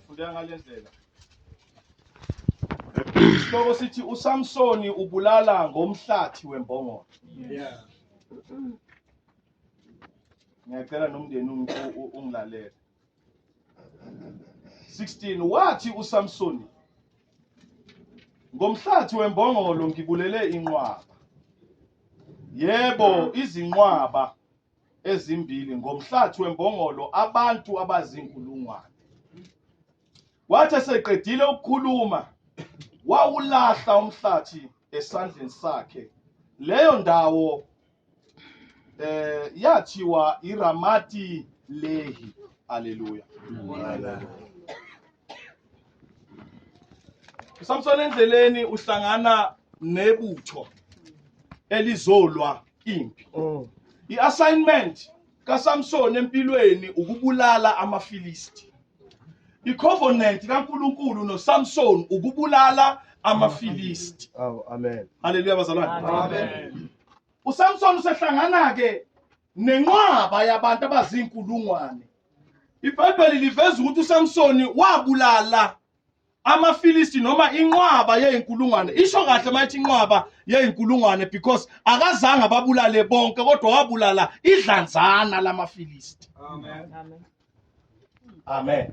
Fundeka ngalendlela. Isihloko sithi uSamsoni ubulala ngomhlathi wembongolo. Yeah. Ngiyacela nomndeni ungilalele. 16 wathi uSamsoni ngomhlathi wembongolo ngibulele inqwaba. Yebo izinqwaba ezimbili ngomhlathi wembongolo abantu abazinkulungwane. Wathi eseqedile ukukhuluma wawulahla umhlathi esandleni sakhe. Leyo ndawo eh yathiwa iRamati Lehi. Haleluya. uSamson endleleni uhlangana nebutho elizolwa impi mm. i-assignment kaSamson empilweni ukubulala amaFilisti i-covenant kaNkulunkulu noSamson ukubulala amaFilisti awu amen haleluya bazalwane amen uSamson usehlangana ke nenqwaba yabantu abazinkulungwane ibhayibheli liveza ukuthi uSamson wabulala amaFilisti noma inqwaba yeyinkulungwane isho kahle mayithi inqwaba yeyinkulungwane because akazange ababulale bonke kodwa wabulala idlanzana lamaFilisti amen amen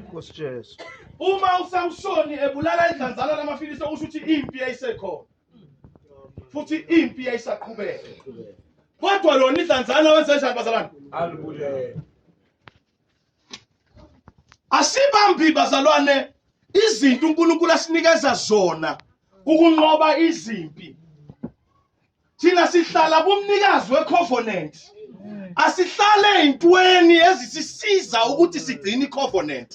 Nkosi Jesu uma uSamsoni ebulala idlanzana lamaFilisti okusho ukuthi impi yayisekhona futhi impi yayisaqhubeka kodwa lona idlanzana wenze njani bazalwane alibulele Asibambi bazalwane izinto uNkulunkulu asinikeza zona ukunqoba izimpi. Thina sihlala kumnikazi wecovenant. Asihlale ezintweni ezisisiza ukuthi sigcine icovenant.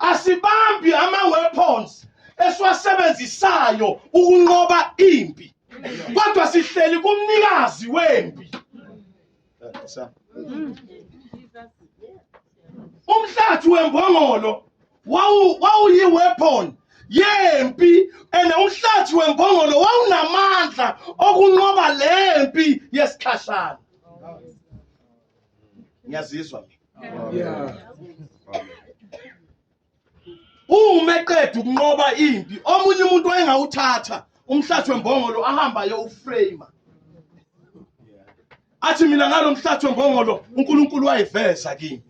Asibambi ama weapons esiwasebenzisayo ukunqoba impi. Kodwa sihleli kumnikazi wempi. umhlathi wembongolo wawuyi-weapon yempi and umhlathi wembongolo wawunamandla okunqoba le mpi yesikhashana ngiyazizwa mina uma eqeda ukunqoba impi omunye umuntu wayengawuthatha umhlathi wembongolo ahamba ayowuframe athi mina ngalo mhlathi wembongolo uNkulunkulu wayiveza kimi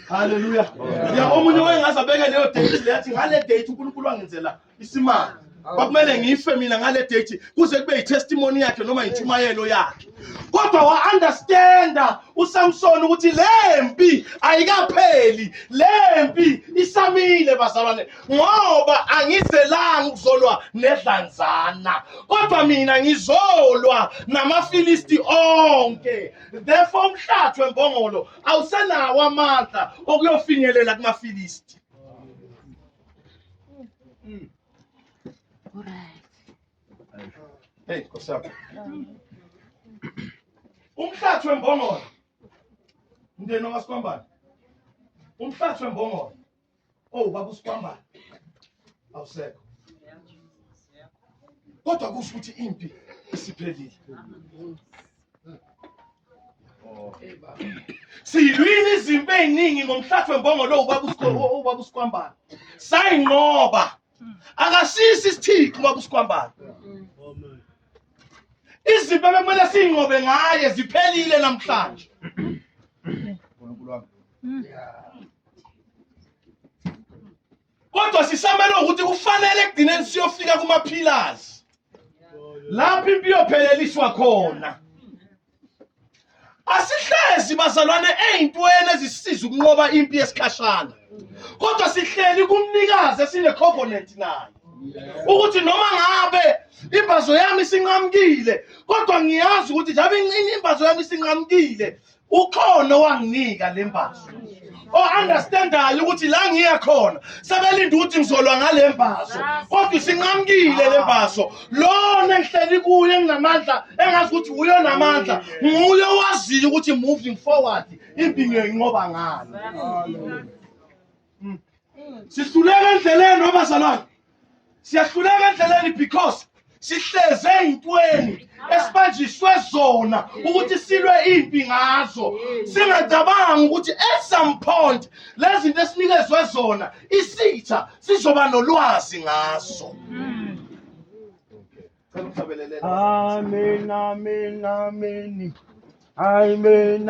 haleluya ya omunye wayengaze abeke leyo date leyathi ngale date uNkulunkulu wangenzela isimanga kwakumele ngife mina ngale date kuze kube yitestimony yakhe noma yintshumayelo yakhe kodwa wa-understanda usamsoni ukuthi le mpi ayikapheli le mpi isamile bazalwane ngoba angizelanga ukuzolwa nedlanzana kodwa mina ngizolwa namafilisti onke therefore umhlathi wembongolo awusenawo amandla okuyofinyelela kumafilisti Hey, what's up? Umhlathi wembongolo. Mndeni wakasikwambana. Umhlathi wembongolo. Oh, baba usikwambana. Awusekho. Kodwa kusho ukuthi impi isiphelile. Silwile izimpi eziningi ngomhlathi wembongolo ubaba usikwambana. Sayinqoba. Akasisi isithixo ubaba usikwambana. Izimpi bekumele siyinqobe ngaye ziphelile namhlanje. kodwa sisamele ukuthi kufanele ekugcineni siyofika kumaphilazi lapho impi iyopheleliswa khona asihlezi bazalwane ey'ntweni ezisisiza ukunqoba impi yesikhashana kodwa sihleli kumnikazi esine-covenant naye ukuthi noma ngabe imbazo yami isinqamukile kodwa ngiyazi ukuthi njabe imbazo yami isinqamukile ukhona owanginika le mbazo o-understandayo oh, ukuthi la ngiya khona sebelinde ukuthi ngizolwa ngale mbazo kodwa isinqamukile le mbazo lona engihleli kuyo enginamandla engazi ukuthi wuyo namandla nguye owaziyo ukuthi moving forward impinyo inqoba ngani mm. sihluleka endleleni wabazalwane siyahluleka endleleni because sihleze ey'ntweni esibanjiswe zona ukuthi silwe impi ngazo singacabangi ukuthi at some point lezi zinto esinikezwe zona isitha sizoba nolwazi ngazo Amen, amen, amen. Amen, amen.